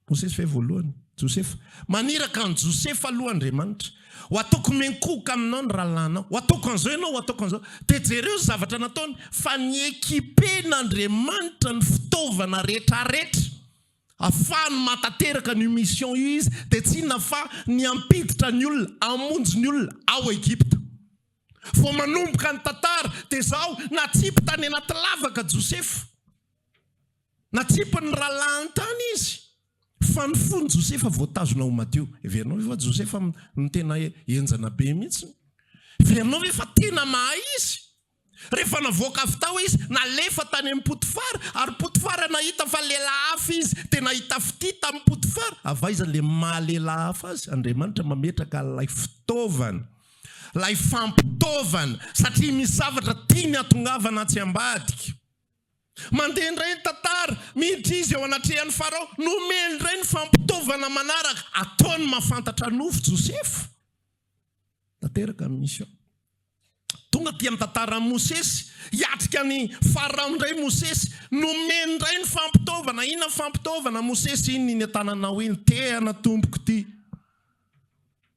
Mosesy ve voalohany? Josefa. Maniraka an'i Josefa aloha Andriamanitra. Ho ataoko miankohoka aminao ny rahalahinao. Ho ataoko an'izao ianao, ho ataoko an'izao. Dia jereo ny zavatra nataony. Fa ni-equiper-n'Andriamanitra ny fitaovana rehetrarehetra. Afahany matateraka an'io mission io izy dia tsy inona fa ny hampiditra ny olona, hamonjy ny olona ao Egypta. Vao manomboka ny tantara dia izao, natsipy tany anaty lavaka Josefa. Natsipin'ny rahalahiny tany izy. Fa ny fon'i Josefa voatazona ho madio. Heverinao ve fa Josefa no tena henjana be mihitsy? Heverinao ve fa tena mahay izy? Rehefa navoaka avy tao izy, nalefa tany amin'i Potifara, ary Potifara nahita fa lehilahy hafa izy, dia nahita fitia tamin'i Potifara. Avy aiza ilay maha lehilahy hafa azy? Andriamanitra mametraka ilay fitaovana, ilay fampitaovana, satria misy zavatra tiany hatongavana atsy ambadika. Mandeha indray ny tantara, miditra izy eo anatrehan'i Farao, nomeny indray ny fampitaovana manaraka, ataony mahafantatra nofo Josefa. tanteraka ny mission. Tonga aty amin'ny tantaran'i Mosesy, hiatrika an'i Farao indray i Mosesy, nomeny indray ny fampitaovana. Inona ny fampitaovana Mosesy? Iny iny an-tananao iny, tehana tompoko ity.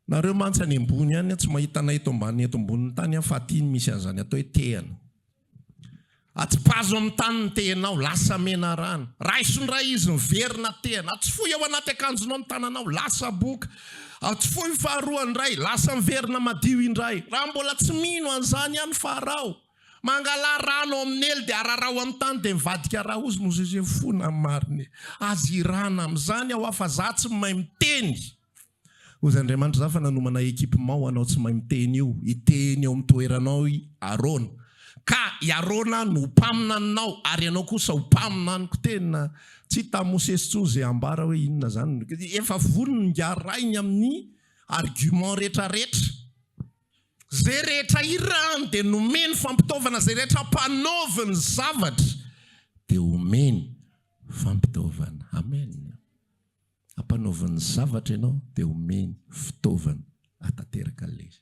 Nareo mantsy any ambony any tsy mahita anay eto ambany eto ambonin'ny tany fa aty misy an'izany atao hoe tehana. Atipazo amin'ny tany ny tehinao, lasa mena rano. Raiso indray izy, miverina tehana. Atsifoy ao anaty akanjonao ny tananao, lasa boka. Atsifoy ny faharoa indray, lasa miverina madio indray. Raha mbola tsy mino an'izany ihany Farao, mangalà rano ao amin'ny elo dia araraho amin'ny tany dia mivadika raozy Mozesy, fona ny marina e! Aza hirana amin'izany aho fa izaho tsy mahay miteny. Hozy Andriamanitra za fa nanomana equipement ho anao tsy mahay miteny io hiteny eo amin'ny toeranao i Arona ka i Arona no ho mpaminaninao ary ianao kosa ho mpaminaniko tena tsy hitan'i Mosesy intsony izay hambara hoe inona izany efa vonona ngarahiny amin'ny argument rehetra rehetra izay rehetra hirany dia nomeny fampitaovana izay rehetra hampanaovy ny zavatra dia omeny fampitaovana amen. Ampanaoviny zavatra ianao dia omeny fitaovana hatanteraka an'ilay izy.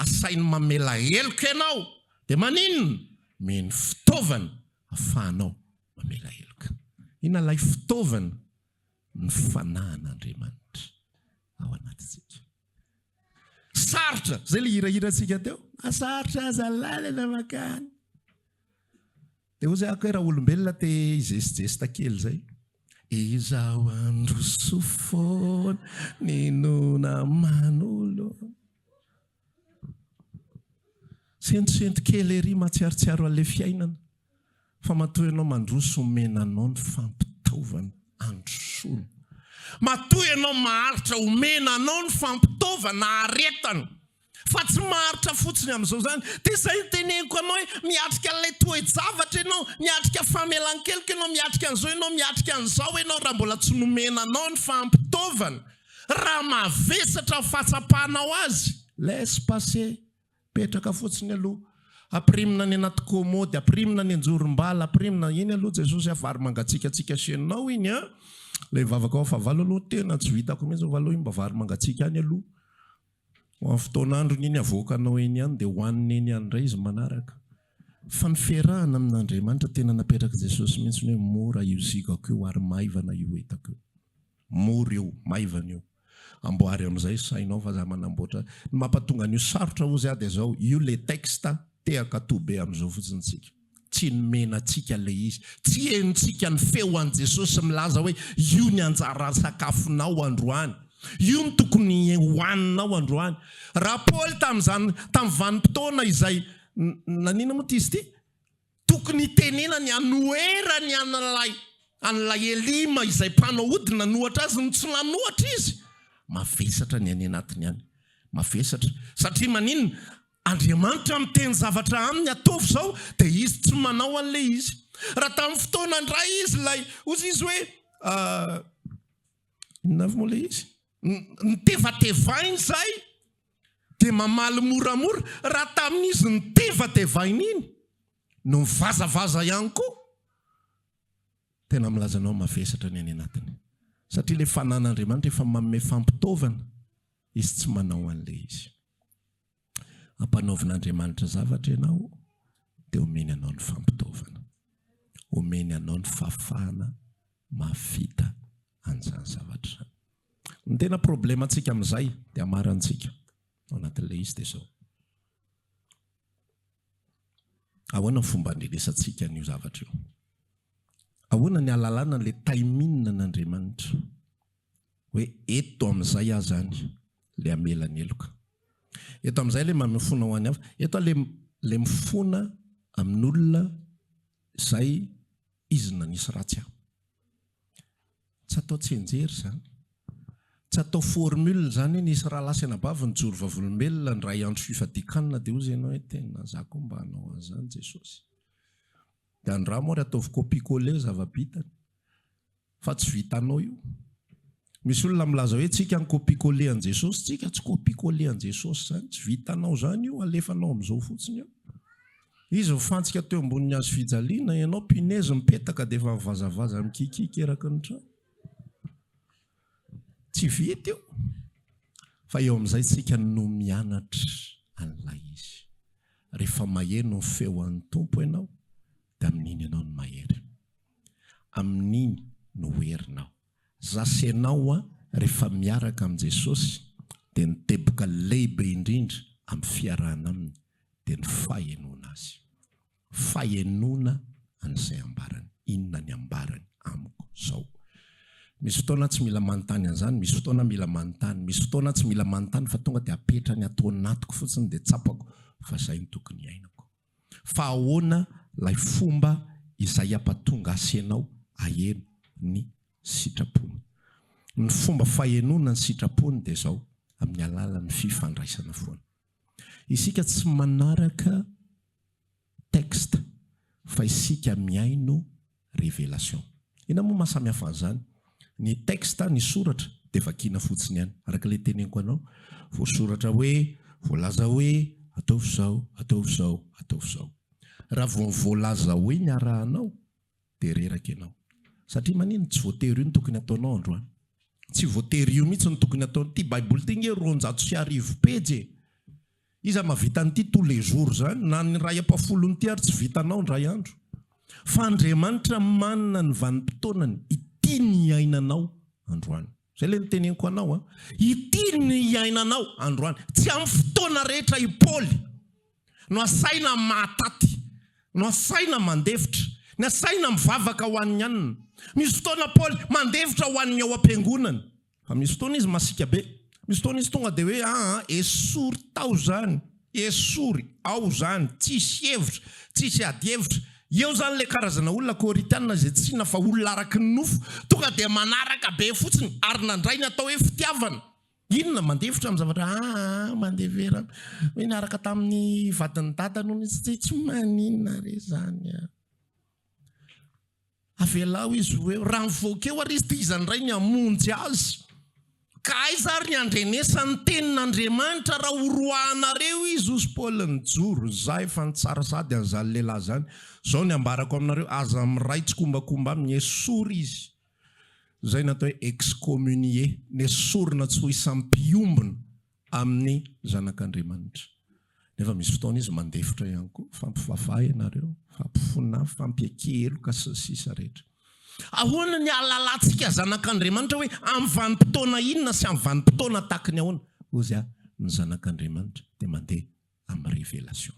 Asainy mamela heloka ianao dia maninona? Omeny fitaovana hafahanao mamela heloka. Inona ilay fitaovana? Ny fanahin'Andriamanitra ao anatintsika. Sarotra, izay ilay hirahirantsika teo, na sarotra aza ny lalana mankany. Dia ozy ako hoe raolombelona te hijestijesta kely zay. Izaho handroso foana ny nona manolo. Sentosento kely ery matsiarotsiaro an'ilay fiainana fa matoa ianao mandroso omena anao ny fampitaovana handrosoana. Matoa ianao maharitra omena anao ny fampitaovana aretana. Fa tsy maharitra fotsiny amin'izao izany. Dia izay no teneniko anao hoe miatrika an'ilay toe-javatra ianao, miatrika famelan-keloka ianao, miatrika an'izao ianao, miatrika an'izao ianao raha mbola tsy nomena anao ny fampitaovana, raha mavesatra ny fahatsapanao azy, laisse passer, petraka fotsiny aloha, ampirimina any anaty kômôdy, ampirimina any an-jorom-bala, ampirimina, iny aloha Jesosy a, vary mangatsiakatsiaka asianao iny a, ilay vavaka ao fahavalo aloha tena tsy vitako mihitsy, fa aleo iny mba vary mangatsiaka any aloha. Ho amin'ny fotoan'androny iny avoakanao eny ihany dia hohanina eny ihany indray izy manaraka. Fa ny fiarahana amin'Andriamanitra tena napetrak'i Jesosy mihitsy ny hoe mora io zigako io ary maivana io entako io. Mora io, maivana io. Amboary amin'izay sainao fa za manamboatra. Ny mampatonga an'io sarotra hozy aho dia izao, io le texte tehaka toa be amin'izao fotsiny tsika. Tsy nomena antsika ilay izy. Tsy henontsika ny feo an'i Jesosy milaza hoe, Io ny anjara sakafonao androany. Io no tokony hohaninao androany. Raha Paoly tamin'izany, tamin'ny vanim-potoana izay, nanina moa ity izy ity? Tokony hitenenany hanoherany an'ilay an'ilay Elima izay mpanao ody nanohatra azy no tsy nanohatra izy. Mavesatra ny any anatiny any. Mavesatra. Satria maninona? Andriamanitra miteny zavatra aminy ataovy izao dia izy tsy manao an'ilay izy. Raha tamin'ny fotoana indray izy ilay hozy izy hoe inona avy moa ilay izy? Nitevatevainy izay dia mamaly moramora. Raha tamin'izy nitevatevainy iny no mivazavaza ihany koa tena milaza anao mavesatra ny any anatiny. Satria ilay fanan'Andriamanitra efa manome fampitaovana. Izy tsy manao an'ilay izy. Ampanaovin'Andriamanitra zavatra ianao, dia omeny anao ny fampitaovana. Omeny anao ny fahafahana mahavita an'izany zavatra izany. Ny tena problemantsika amin'izay, dia hamarantsika ao anatin'ilay izy dia izao. Ahoana ny fomba andrenesantsika an'io zavatra io? Ahoana ny alalana an'ilay timing an'Andriamanitra? hoe eto amin'izay aza any le hamela ny heloka. Eto amin'izay le mamifona ho any hafa. Eto aho le le mifona amin'olona izay izy nanisy ratsy ahy. Tsy atao tsianjery izany. Tsy atao formule izany hoe nisy rahalahy sy anabavy nijoro vavolombelona indray andro fifadian-kanina dia hozy ianao hoe tena za koa mba hanao an'izany Jesosy. Dia andramo ary ataovy copier coller zava-bitany. Fa tsy vitanao io. Misy olona milaza hoe tsika no copie coller an'i Jesosy, tsika tsy copie coller an'i Jesosy izany, tsy vitanao izany io, alefanao amin'izao fotsiny eo. Izy mifantsika teo ambonin'ny hazo fijaliana, ianao punaise mipetaka dia efa mivazavaza mikikiaka eraky ny trano. Tsy vita io. Fa eo amin'izay tsika no mianatra an'ilay izy. Rehefa maheno ny feon'ny Tompo ianao dia amin'iny ianao no mahery. Amin'iny no ho herinao. Za sy ianao rehefa miaraka amin'i Jesosy dia ny teboka lehibe indrindra amin'ny fiarahana aminy dia ny fahenoana Azy. Fahenoana an'izay ambarany. Inona ny ambarany amiko zao? Misy fotoana tsy mila manontany an'izany, misy fotoana mila manontany. Misy fotoana tsy mila manontany fa tonga dia apetrany ato anatiko fotsiny dia tsapako fa zay no tokony iainako. Fa ahoana lay fomba izay ampatonga asenao aheno ny sitrapony? Ny fomba fahenoana ny sitrapony dia zao amin'ny alalan'ny fifandraisana foana. Isika tsy manaraka texte fa isika mihaino Revelation. Inona moa maha samy hafa an'izany? Ny texte, ny soratra, dia vakiana fotsiny ihany, araka ilay teneniko anao, voasoratra hoe, voalaza hoe, ataovy izao, ataovy izao, ataovy izao. Raha vao voalaza hoe ny arahanao, dia reraka ianao. Satria manino? Tsy voatery io no tokony hataonao androany. Tsy voatery io mihitsy no tokony hataonao. Ity Baiboly ity ange roanjato sy arivo pejy e! Iza mavita an'ity tous les jours zany? Na ny ray ampafolony ity ary tsy vitanao indray andro. Fa Andriamanitra manana ny vanim-potoanany ity ny iainanao androany. Zay le niteneniko anao a. Ity ny iainanao androany. Tsy amin'ny fotoana rehetra i Paoly no asaina mahataty, no asaina mandefitra, ny asaina mivavaka ho an'ny anona. Misy fotoana Paoly mandefitra ho an'ny ao am-piangonany. Fa misy fotoana izy masiaka be. Misy fotoana izy tonga dia hoe aa esory tao izany, esory ao izany, tsisy hevitra, tsisy ady hevitra. Eo izany ilay karazana olona kôrintiana izay tsy hina fa olona araky ny nofo, tonga dia manaraka be fotsiny ary nandray ny atao hoe fitiavana. Inona? Mandefitra amin'ny zavatra aa mandevera hoe niaraka tamin'ny vadin'ny dadany hono izy, tsy maninona re izany a. Avelao izy ho eo. Raha mivoaka eo àry izy, dia iza indray ny hamonjy azy? Ka aiza àry ny handrenesany ny tenin' Andriamanitra, raha horoahanareo izy? Hoy Paoly, Nijoro izaho efa nitsara sahady an'izany lehilahy izany. Izao ny ambarako aminareo, Aza miray tsikombakomba aminy. Esory izy. Izay no atao hoe excommunier, nesorina tsy ho isan'ny mpiombona. amin'ny zanak'Andriamanitra. Nefa misy fotoana izy mandefitra ihany koa, fampivavaha ianareo, fampifona, fampiakia heloka sy ny sisa rehetra. Ahoana ny ahalalantsika zanak'Andriamanitra hoe amin'ny vanim-potoana inona sy amin'ny vanim-potoana tahaky ny ahoana? Ozia, ny zanak'Andriamanitra dia mandeha amin'ny révélation.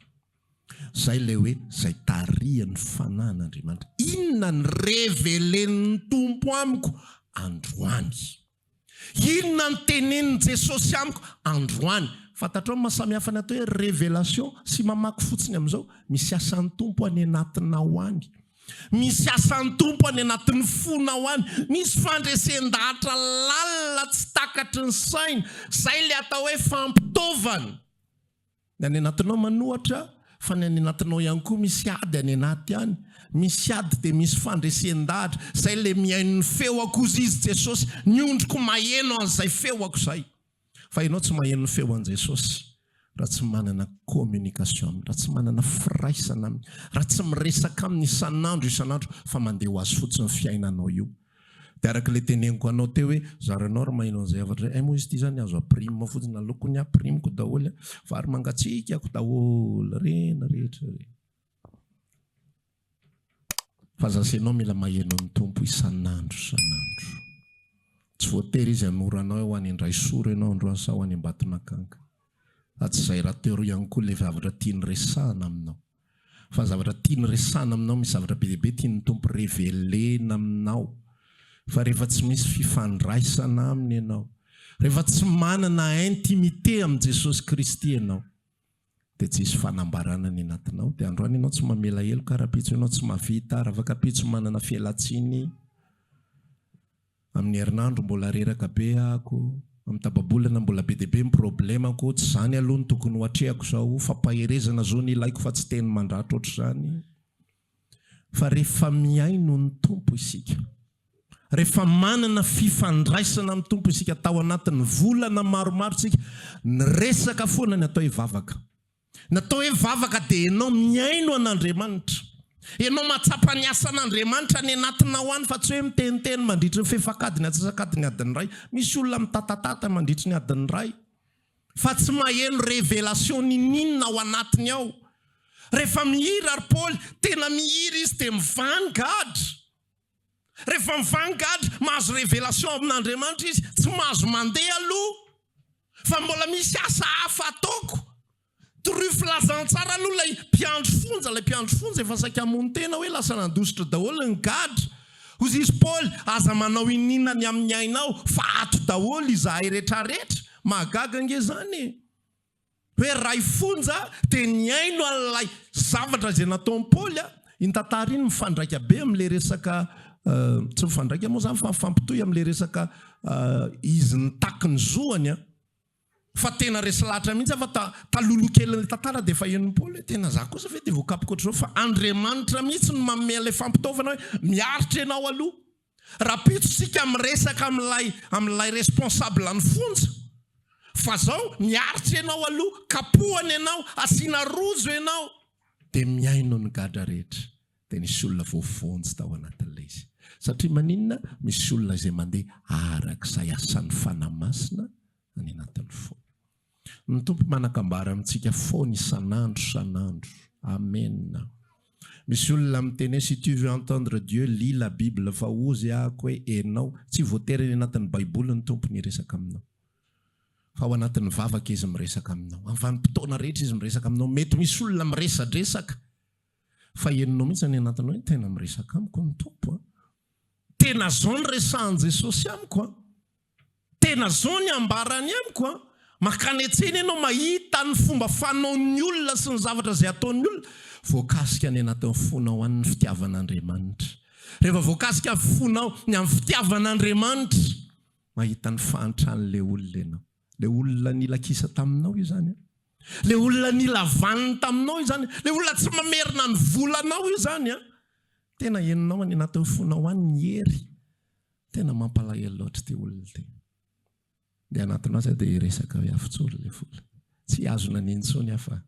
Zay ilay hoe zay tarihan'ny fanahin'Andriamanitra. Inona ny révélé-n'ny Tompo amiko androany? Inona no tenenin'i Jesosy amiko androany? Fantatrao ny maha samy hafa ny atao hoe révélation sy mamaky fotsiny amin'izao? Misy asan'ny Tompo any anatinao any. Misy asan'ny Tompo any anatin'ny fonao any. Misy fandresen-dahatra lalina tsy takatry ny saina. Izay ilay atao hoe fampitaovana. Ny any anatinao manohatra fa ny any anatinao ihany koa misy ady any anaty any. Misy ady dia misy fandresen-dahatra. Izay ilay mihaino ny feoko, hozy Izy, Jesosy, ny ondriko maheno an'izay feoko izay. Fa ianao tsy maheno ny feo an'i Jesosy raha tsy manana communication Aminy, raha tsy manana firaisana Aminy, raha tsy miresaka Aminy isan'andro isan'andro fa mandeha ho Azy fotsiny fiainanao io. Dia araka ilay teneniko anao teo hoe zaranao ry maheno an'izay hafatra izay, hay moa izy ity izany azo apprime fotsiny, aleoko ny apprime-ko daholo an, vary mangatsiakako daholo re ny rehetra re. Fa za sy ianao mila maheno ny Tompo isan'andro isan'andro. Tsy voatery Izy hanoro anao hoe ho any Andraisoro ianao androany sa ho any Ambatonakanga. Fa tsy izay raha teo ihany koa ilay zavatra tiany resahana aminao. fa zavatra tiany resahina aminao misy zavatra be dia be tian'ny Tompo revelena aminao fa rehefa tsy misy fifandraisana aminy ianao rehefa tsy manana intimité amin'i Jesosy Kristy ianao dia tsy hisy fanambarana ny anatinao dia androany ianao tsy mamela heloka rahampitso ianao tsy mahavita raha afaka pitso manana fialantsiny Amin'ny herinandro mbola reraka be ako, amin'ny tapa-bolana mbola be dia be ny problemako, tsy izany aloha no tokony ho atrehako izao, fampaherezana zo no ilaiko fa tsy teny mandratra ohatr'izany. Fa rehefa mihaino ny Tompo isika, rehefa manana fifandraisana amin'ny Tompo isika tao anatin'ny volana maromaro isika, ny resaka foana ny atao hoe vavaka. Natao hoe vavaka dia enao mihaino an' Andriamanitra. Enao mahatsapa ny asan' Andriamanitra any anatinao any fa tsy hoe miteniteny mandritry ny fefak'adiny antsasak'adiny adiny iray. Misy olona mitatatata mandritry ny adiny iray fa tsy maheno revelation niniana ao anatiny ao. Rehefa mihira ry Paoly, tena mihira izy dia mivany gadra. Rehefa mivagny gadra, mahazo révélation avy amin'Andriamanitra izy, tsy mahazo mandeha aloha fa mbola misy asa hafa ataoko. Toroy filazantsara aloha ilay mpiandry fonja, ilay mpiandry fonja efa saika hamono tena hoe lasa nandositra daholo ny gadra. Hoy izy Paoly, aza manao iniana ny amin'ny ainao fa ato daholo izahay retraretra. Mahagaga ange zany e! Hoe ray fonja dia nihaino an'ilay zavatra izay nataon'i Paoly a. Iny tantara iny mifandraika be amin'ilay resaka, tsy mifandraika moa izany fa mifampitohy amin'ilay resaka izy nitaky ny zoany a. Fa tena resy lahatra mihitsy aho fa taloloha kelin'ilay tantara dia efa henon'i Paoly hoe tena za kosa ve dia voakapoko ohatr'izao fa Andriamanitra mihitsy no manome an'ilay fampitaovana hoe miaritra ianao aloha. Rahampitso isika miresaka amin'ilay amin'ilay responsable ny fonja fa zao miaritra ianao aloha kapohana ianao asiana rojo ianao dia mihaino ny gadra rehetra dia nisy olona voavonjy tao anatin'ilay izy satria maninona misy olona izay mandeha arak'izay asan'ny fanahy masina any anatin'ny fo Ny Tompo manakambara amintsika foana isan'andro isan'andro. Amen. Misy olona miteny hoe si tu veux entendre Dieu lis la bible fa ozy ahako hoe enao tsy voatery any anatin'ny baiboly ny Tompo miresaka aminao fa ao anatin'ny vavaka izy miresaka aminao amin'ny vanim-potoana rehetra izy miresaka aminao mety misy olona miresadresaka fa enonao mihitsy any anatiny hoe tena miresaka amiko ny Tompo a tena zao ny resahan'i Jesosy amiko a Tena zao ny ambarany amiko a! Makany an-tsena ianao mahita ny fomba fanaon'ny olona sy ny zavatra izay ataon'ny olona, voakasika any anatin'ny fonao any ny fitiavan'Andriamanitra. Rehefa voakasika ny fonao ny amin'ny fitiavan'Andriamanitra, mahita ny fahantran'ilay olona ianao. Ilay olona nila kisa taminao izany an! Ilay olona nila vaniny taminao izany an! Ilay olona tsy mamerina ny volanao izany an! Tena henonao any anatin'ny fonao any ny hery. Tena mampalahelo loatra ity olona ity. Ny anatiny aza dia hiresaka hoe afitsolo ilay vola. Tsy hihazona an'iny intsony aho fa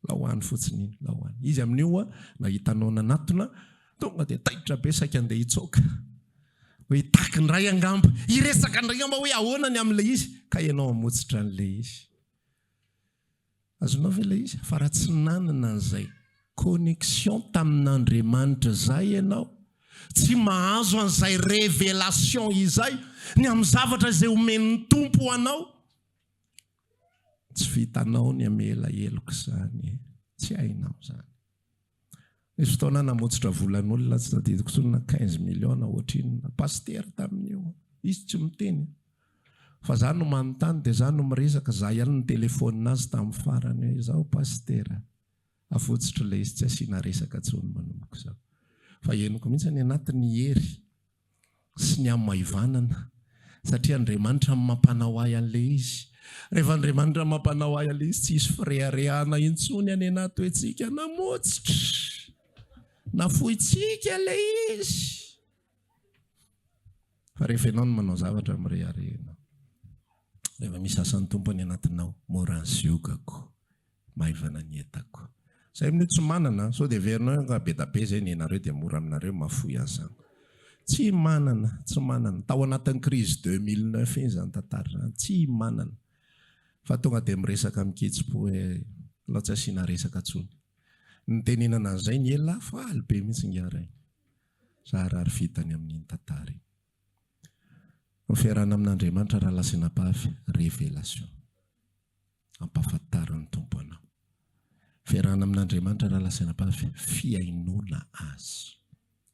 lao any fotsiny iny, lao any. Izy amin'io ho'a nahita anao nanatona, tonga dia taitra be saika andeha hitsoaka. Hoe hitaky indray angamba, hiresaka indray angamba hoe ahoana ny amin'ilay izy, ka ianao hamotsitra an'ilay izy. Azonao ve ilay izy? Fa raha tsy nanana an'izay connexion tamin'Andriamanitra izay ianao, tsy mahazo an'izay révélation izay, ny amin'ny zavatra izay omen'ny Tompo ho anao, tsy vitanao ny hamela heloka izany e! Tsy hainao izany. Nisy fotoana namotsitra volan'olona tsy tadidiko intsony na quinze millions ohatrinona. Pasitera tamin'io. Izy tsy miteny. Fa za no manontany dia za no miresaka. Za ihany nitelefaonina azy tamin'ny farany hoe izao pasitera. Avotsotro ilay izy tsy asiana resaka intsony manomboka izao. Fa henoko mihitsy any anaty ny hery. sy ny hamaivanana satria Andriamanitra no mampanao ahy an'ilay izy. Rehefa Andriamanitra no mampanao ahy an'ilay izy, tsy hisy fireharehana intsony anie na atoentsika na motsitra, na fointsika ilay izy. Fa rehefa ianao no manao zavatra, mirehareha ianao. Rehefa misy asan'ny Tompo any anatinao, mora ziogako Maivana ny entako. Zay mino tsy manana, sao dia heverinao hoe nga be da be zay nenareo dia mora aminareo mafoy azy zany. Tsy manana, tsy manana. Tao anatin'ny crise deux mille neuf iny zany tantara zany. Tsy manana. Fa tonga dia miresaka amin-kitsim-po hoe alao tsy asiana resaka intsony. Nitenenana an'izay ny ela faly be mihitsy ingahy Rainy. Zaharary vitany amin'iny tantara iny. Ny fiarahana amin'Andriamanitra raha lahy sy anabavy, révélation. Ampahafantarin'ny Tompo anao. Fiarahana amin'Andriamanitra raha lazaina fa fihainoana Azy.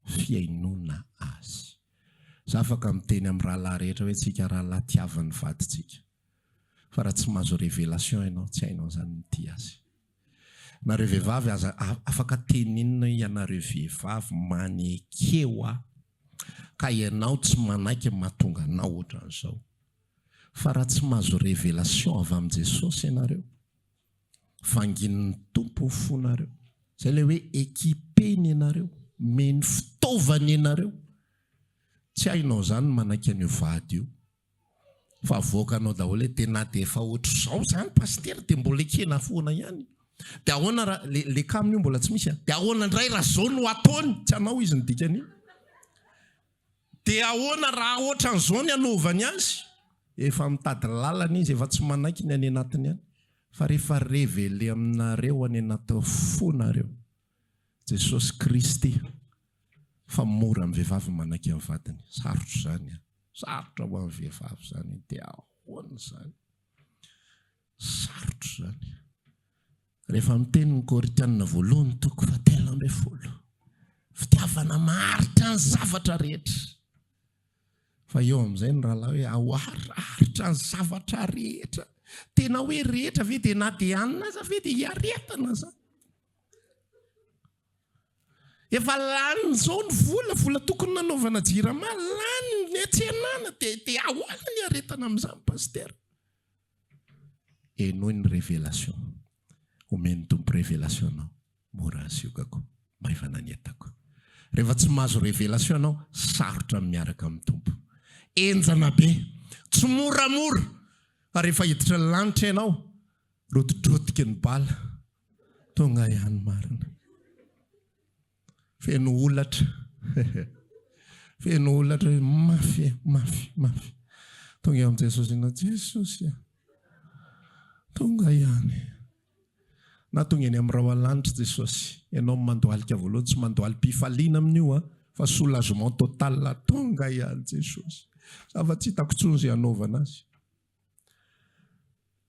Fihainoana Azy. Za afaka miteny amin'ny rahalahy rehetra hoe tsika rahalahy tiavan'ny vadintsika. Fa raha tsy mahazo révélation ianao, tsy hainao izany ny tia azy. Nareo vehivavy aza, afaka teny inona ianareo vehivavy manekeo aho ka ianao tsy manaiky ny mahatonga anao ohatran'izao. Fa raha tsy mahazo révélation avy amin'i Jesosy ianareo, vanginin'ny Tompo ho fonareo. Zay ilay hoe équipeny ianareo, omeny fitaovana ianareo. Tsy hainao zany ny manaiky an'io vady io. Fa avoakanao daholo hoe dia na dia efa ohatr'izao zany Pasitera dia mbola ekena foana ihany. Dia ahoana raha, le, le kamo io mbola tsy misy an. Dia ahoana indray raha zao no ataony? Tsy anao izy ny dikan'io. Dia ahoana raha ohatran'izao ny anaovany azy? Efa mitady lalana izy, efa tsy manaiky ny any anatiny any, fa rehefa reveler aminareo any anaty fo nareo Jesosy Kristy fa mora amin'ny vehivavy ny manaiky ny vadiny, sarotra izany an, sarotra ho an'ny vehivavy izany, dia ahoana izany? Sarotra izany. Rehefa miteny ny Korintiana voalohany toko fahatelo ambin'ny folo. Fitiavana maharitra ny zavatra rehetra. Fa eo amin'izay ny rahalahy hoe ao aritra ny zavatra rehetra. Tena hoe rehetra ve dia na dia anina aza ve dia hiaretana zany. Efa lany zao ny vola, vola tokony nanaovana jirama, lany ny atsenana dia dia ahoana ny aretana amin'izany pasitera. Henoy ny révélation omen'ny Tompo révélation anao mora ny siokako, maivana ny entako. Rehefa tsy mahazo révélation ianao sarotra ny miaraka amin'ny Tompo. Henjana be, tsy moramora fa rehefa hiditra ny lanitra ianao rotidrotiky ny bala tonga ihany marina. Feno holatra. Feno holatra hoe mafy, mafy, mafy. Tonga eo amin'i Jesosy ianao, Jesosy a. Tonga ihany. Na tonga eny amin'ny raoalanitra Jesosy, ianao no mandohalika voalohany, tsy mandohalim-pifaliana amin'io a, fa soulagement total, tonga ihany Jesosy. Zava-tsy hitako intsony izay hanaovana azy.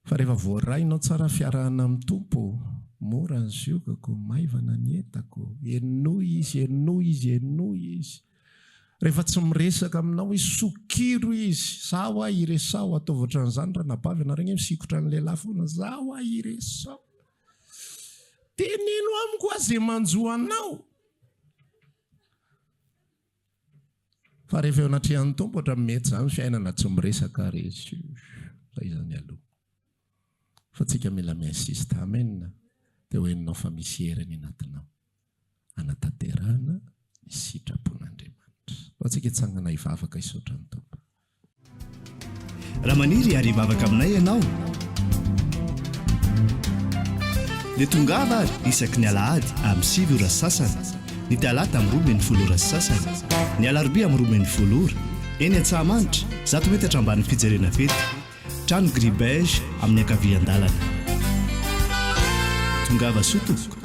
Fa rehefa voarainao tsara fiarahana amin'ny Tompo, mora ny ziogako, maivana ny entako, henoy Izy, henoy Izy, henoy Izy. Rehefa tsy miresaka aminao Izy, sokiro Izy, zaho aho iresaho, ataovy ohatran'izany ranabavy ianareo ange misikotra ny lehilahy foana, zaho aho iresaho. Teneno amiko aho izay manjo anao. Fa rehefa eo anatrehan'ny Tompo ohatran'ny mety izany fiainana tsy miresaka ary izy fa iza mialoha. Fa antsika mila mi-insiste. Amen. Dia ho henonao fa misy hery any anatinao hanatanterahana ny sitrapon'Andriamanitra. Antsika hitsangana hivavaka hisaotra ny Tompo. Raha maniry hiary hivavaka aminay ianao, dia tongava ary isaky ny alahady amin'ny sivy ora sy sasany, ny talata amin'ny roa min'ny folo ora sy sasany, ny alarobia amin'ny roa min'ny folo ora, eny Antsahamanitra, zato metatra ambanin'ny fijerena fety, trano gris beige amin'ny ankavian-dalana. Tongava soa tompoko.